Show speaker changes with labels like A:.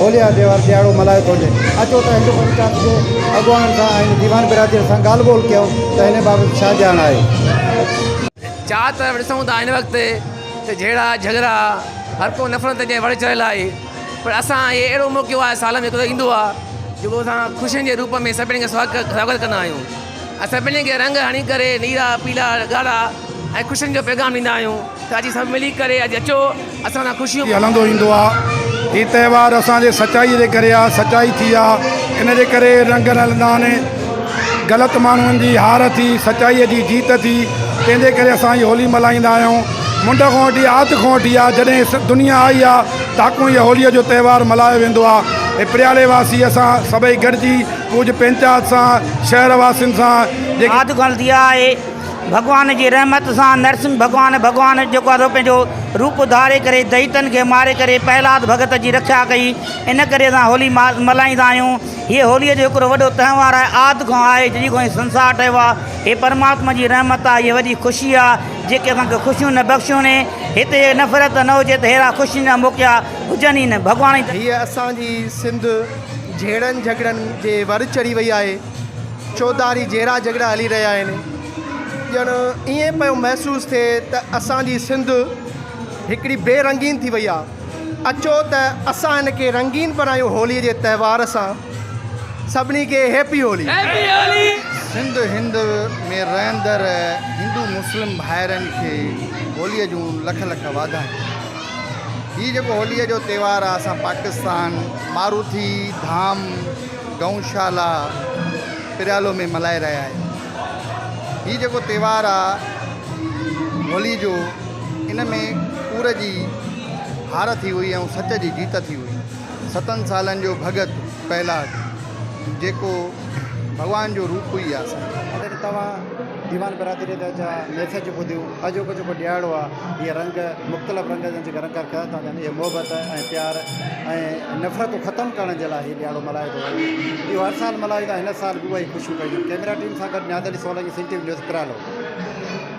A: هوليء جا تهوار ڏيهاڙو ملهايو ٿو وڃي. اچو ته هندو پنچايت جي اڳواڻن سان ۽ ديوان برادريء سان ڳالهه ٻولهه ڪيون ته هن بابت ڇا ڄاڻ آهي.
B: چار طرف ڏسون ته هن وقت ته جهيڙا جهڳڙا هر ڪو نفرت جي وڙ چڙهيل آهي پر اسان هي اهڙو موقعو آهي سال ۾ هڪ دفعو ايندو آهي جيڪو اسان خوشين جي روپ ۾ سڀني کي سواگت ڪندا آهيون. اسان ٻنهي کي رنگ هڻي ڪري نيرا پيلا ڳاڙها ۽ خوشين جو پيغام ڏيندا آهيون ته اڄ سڀ ملي ڪري اڄ اچو اسان سان خوشيون ٿي هلندو ايندو آ
C: هي تهوار اسان جي سچائي جي ڪري آ سچائي ٿي آ ان جي ڪري رنگ رلندا آهن غلط ماڻهن جي هار ٿي سچائي جي جيت ٿي تنهن جي ڪري اسان هي هولي ملهائيندا آهيون منڊ کان وٺي آد کان وٺي آ جڏهن دنيا آئي آ تاڪو هي هولي جو تهوار ملهايو ويندو آ هي پريالي واسي اسان سڀئي گڏجي ڪجهه پنچات سان شهر واسين سان. آد کان لڌي
D: آهي ڀڳوان جي رحمت سان نرسنگهه ڀڳوان ڀڳوان جيڪو آدو پنهنجو روپ ڌاري ڪري دئيتن کي ماري ڪري پهلاد ڀڳت جي رکيا ڪئي ان ڪري اسان هولي ملهائيندا آهيون هيء هوليء جو هڪڙو وڏو تهوار آهي آد کان آهي جڏهن کان هي سنسار ٺهيو آهي هي پرماتما جي رحمت آهي هيء وڏي خوشي آهي جيڪي اسان کي خوشيون نه بخشيون ني هتي هيء نفرت نه هجي ته ههڙا خوشين جا موقعا هجن ئي نه ڀڳوان هيء اسان جي
E: سنڌ. جهيڙن جهڳڙن جي ور چڙهي وئي آهي، چوڌاري جهيڙا جهڳڙا هلي رهيا آهن، ڄڻ ائين پيو محسوس ٿئي ته اسان جي سنڌ هڪڙي بي رنگين ٿي وئي آهي، اچو ته اسان ان کي رنگين بڻايون هولي جي تهوار سان، سڀني کي هيپي هولي.
A: سنڌ هند ۾ رهندڙ هندو مسلم ڀائرن کي هولي جون لک لک واڌايون. هي جيڪو هولي جو تهوار آهي اسان پاڪستان. ماروٿي ڌام گئون شالا پريالو ۾ ملهائي رهيا آهيون هي جيڪو تهوار آ هولي جو ان ۾ ڪور جي هار ٿي هئي ۽ سچ جي جيت ٿي هئي ستن سالن جو ڀڳت پهلاج جيڪو ڀڳوان جو روپ هئي آ سائين. اڄ توهان ديوان برادريء جا ميسيج ٻڌيو. اڄوڪو جيڪو ڏيهاڙو آهي هي رنگ مختلف رنگ جا جيڪا رنگ ڪرڻ ٿا چاهن اهي محبت ۽ پيار ۽ نفرتون ختم ڪرڻ جي لاء هي ڏيهاڙو ملهايو ٿو وڃي اهو هر سال ملهايو ويندو آهي هن سال به اهي خوشيون ڪيون ويون ڪئميرا ٽيم سان گڏ نيادري Solangi Sindh T V news پرالو